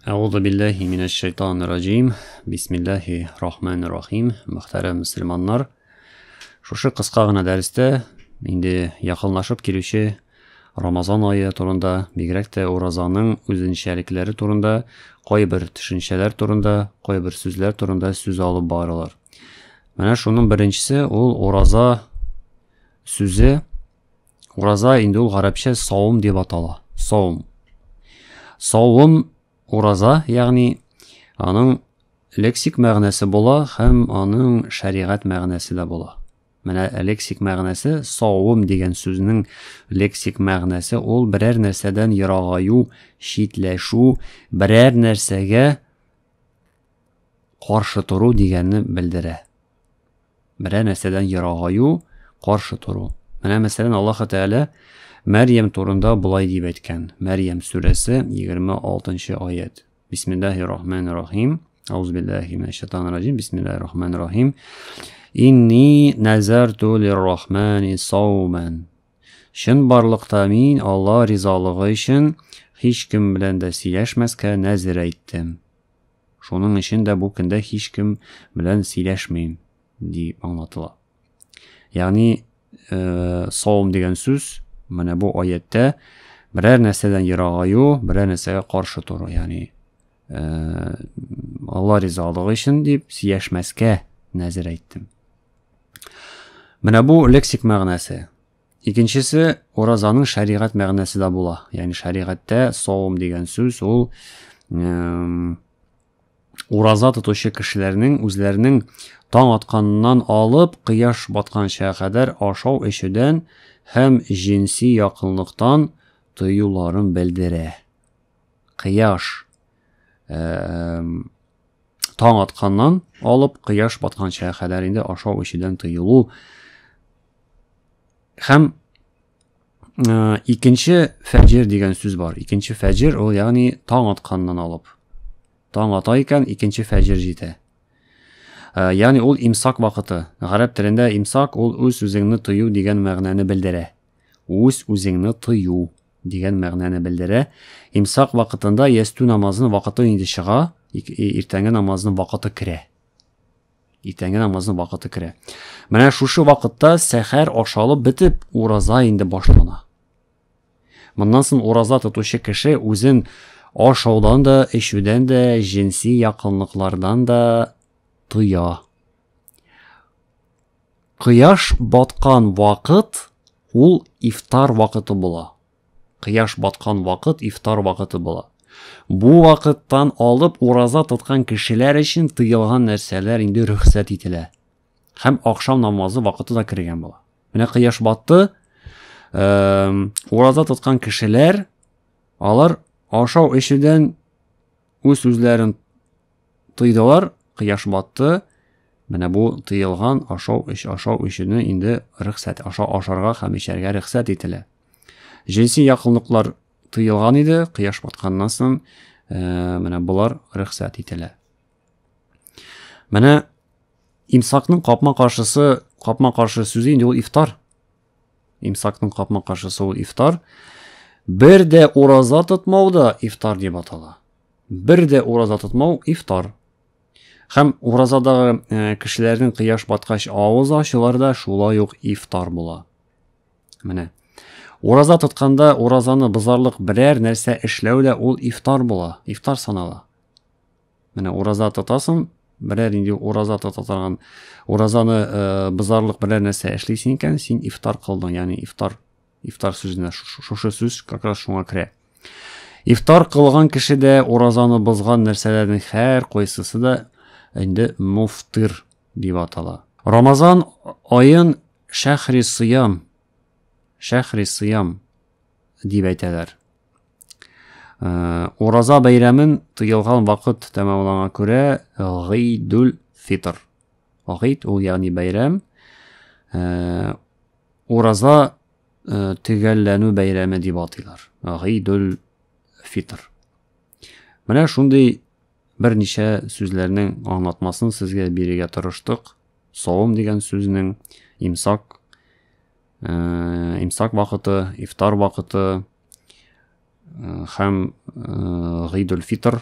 Әгъузу билләһи минәш шайтанир раҗим. Бисмиллаһи рахманир рахим. Мөхтәрәм мусламаннар. Шушы кыска гына дәрестә инде якынлашып килүче Рамазан айы турында, бигрәк тә уразаның үзенчәлекләре турында, кайбер төшенчәләр турында, кайбер сүзләр турында сүз алып барылар. Менә шуның беренчесе ул ураза сүзе Ураза инде ул гарәпчә савым дип атала. Савым. Савым ураза, ягъни аның лексик мәгънәсе була һәм аның шәригать мәгънәсе дә була. Менә лексик мәгънәсе савым дигән сүзнең лексик мәгънәсе ул берәр нәрсәдән ерагаю, читләшү, берәр нәрсәгә каршы тору дигәнне белдерә. Берәр нәрсәдән ерагаю, каршы тору. Менә мәсәлән Аллаһ Тәгалә Мәрьям турында болай дип әйткән. Мәрьям сүрәсе 26 аят. Бисмиллаһи рахманир рахим. Ауз биллаһи минәш шайтанир раҗим. Бисмиллаһи рахманир рахим. Инни назарту лир-рахмани сауман. Шын барлыкта мин Алла ризалыгы өчен һич кем белән дә сөйләшмәскә нәзер әйттем. Шуның өчен дә бу көндә һичкем белән сөйләшмим, ди аңлатыла. Ягъни, э, савым дигән сүз менә бу аяттә берәр нәрсәдән ерагаю, берәр нәрсәгә каршы тору, ягъни э, Алла ризалыгы өчен дип сөйләшмәскә нәзер әйттем. Менә бу лексик мәгънәсе. Икенчесе, уразаның шәригать мәгънәсе дә була. Ягъни шәригатьтә савым дигән сүз ул ураза тотучы кешеләрнең үзләренең таң атканнан алып кояш батканча кадәр ашау эчүдән һәм җенси якынлыктан тыюларын белдерә. кояш таң атканнан алып кояш батканча кадәр инде ашау эчүдән тыелу һәм ә, икенче фәҗир дигән сүз бар икенче фәҗир ул ягъни таң атканнан алып таң ата икән икенче фәҗир җитә ә, ягъни ул имсак вакыты гарәп телендә имсак ул үз үзеңне тыю дигән мәгънәне белдерә үз үзеңне тыю дигән мәгънәне белдерә. Имсак вакытында ястү намазының вакыты инде чыга, иртәнге намазның вакыты керә. Иртәнге намазның вакыты керә. Менә шушы вакытта сәхәр ашалып бетеп, ураза инде башлана. Моннан соң ураза тотучы кеше үзен ашаудан да, эчүдән дә, җенси якынлыклардан да тыя. Кояш баткан вакыт ул ифтар вакыты була. Кояш баткан вакыт ифтар вакыты була. Бу вакыттан алып ураза тоткан кешеләр өчен тыелган нәрсәләр инде рөхсәт ителә. Һәм ахшам намазы вакыты да кергән була. Менә кояш батты. Эм, ураза тоткан кешеләр алар ашау эчүдән үз үзләрен Тыйдылар, кояш батты. Менә бу тыелган ашау эч ашау эчүне инде рөхсәт аша ашарга һәм эчәргә рөхсәт ителә. Җенси якынлыклар тыелган иде, кояш батканнан соң э, менә болар рөхсәт ителә. Менә имсакның капма каршысы, капма каршы сүзе инде ул ифтар. Имсакның капма каршысы ул ифтар. Бер дә ураза тотмау да ифтар дип атала. Бер дә ураза тотмау ифтар. Һәм уразадагы э, кешеләрнең кыяш баткач авыз ачулары да шулай ук ифтар була. Менә. Ураза тотканда уразаны бозарлык берәр нәрсә эшләү дә ул ифтар була, ифтар санала. Менә ураза тотасың, берәр инде ураза тота торган уразаны э, бозарлык берәр нәрсә эшлисең икән, син ифтар кылдың, ягъни ифтар Ифтар сүзенә шушы сүз как раз шуңа керә. Ифтар кылган кеше дә уразаны бозган нәрсәләрнең һәр кайсысы да инде муфтир дип атала. Рамазан аен шәхри сыям, шәхри сыям дип әйтәләр. Э, ураза бәйрәмен тыелган вакыт тәмамланган күрә гыйдүл фитр Гыйд ул ягъни бәйрәм. Э, ураза э, төгәлләнү бәйрәме дип атыйлар. Гыйдул фитр. Менә шундый берничә сүзләрнең аңлатмасын сезгә бирергә тырыштык. Савым дигән сүзнең имсак э, имсак вакыты, ифтар вакыты, һәм гыйдул фитр